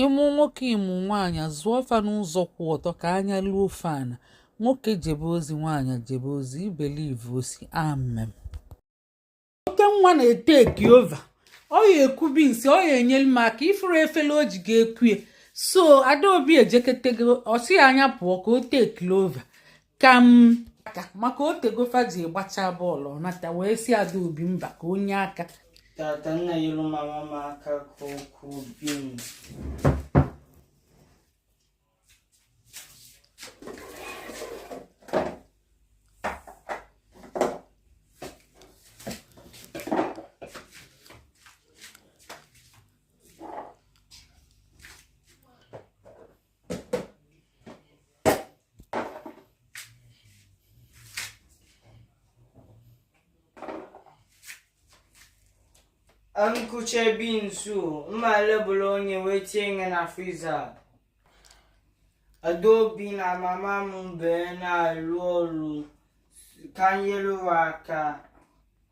ị mụ nwoke ị mụ nwaanyị zụọ fa n'ụzọ kwụ ọtọ ka anya luo fa ana nwoke jebe ozi nwaanyị jebe ozi ị believe o sị amen oke nwa na-etake over ọ ya eku beans ọ ya enyere m aka ị fụrụ efere o ji ga-ekuye so adaobi ejeketego ọ sị ya nya pụọ ka o take over ka m aka maka o tego fa ji gbacha bọọlụ nata wee sị adaobi mba ka o nye aka tata nya nyelu mama m aka ka o kuo beans m kucha beans m ma lebeluo nya wee tinye na friza adaobi na mama m bee na-alụ ọrụ ka nyere wa aka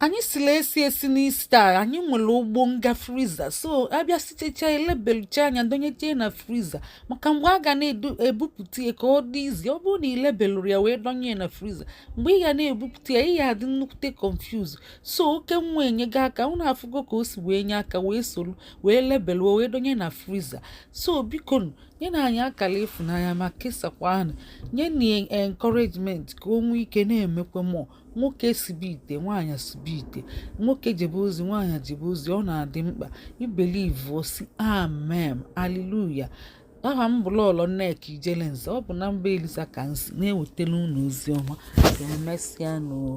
anyị sila esi esi n'ista anyị nwere ụgbọ nga friza so a bịa sitecha e lebelucha nya donyeche na friza maka mgbe a ga na-ebupụta ya ka ọ dị easy ọ bụrụ na i lebelụrọ ya wee donye na friza mgbe ị ga na-ebupụta ya ị ya adị nnukwute confuse so oke nwa enyego aka unu afụgo ka o si wee nye aka wee soro wee lebeluo wee donye na friza so biko nyenụ anyị akara ịfụnanya ma kesakwa anyị nye nya encouragement ka o nwee ike na-emekwa more nwoke sibe ite nwaanyị sibe ite nwoke jebe ozi nwaanyị jebe ozi ọ na-adị mkpa ị believe o sị amen aleluya aha m bụ lọlọ nneka ijelenze ọ bụ na mba eliza ka m si na-ewetara unu ozi ọma ka emesịa nụ o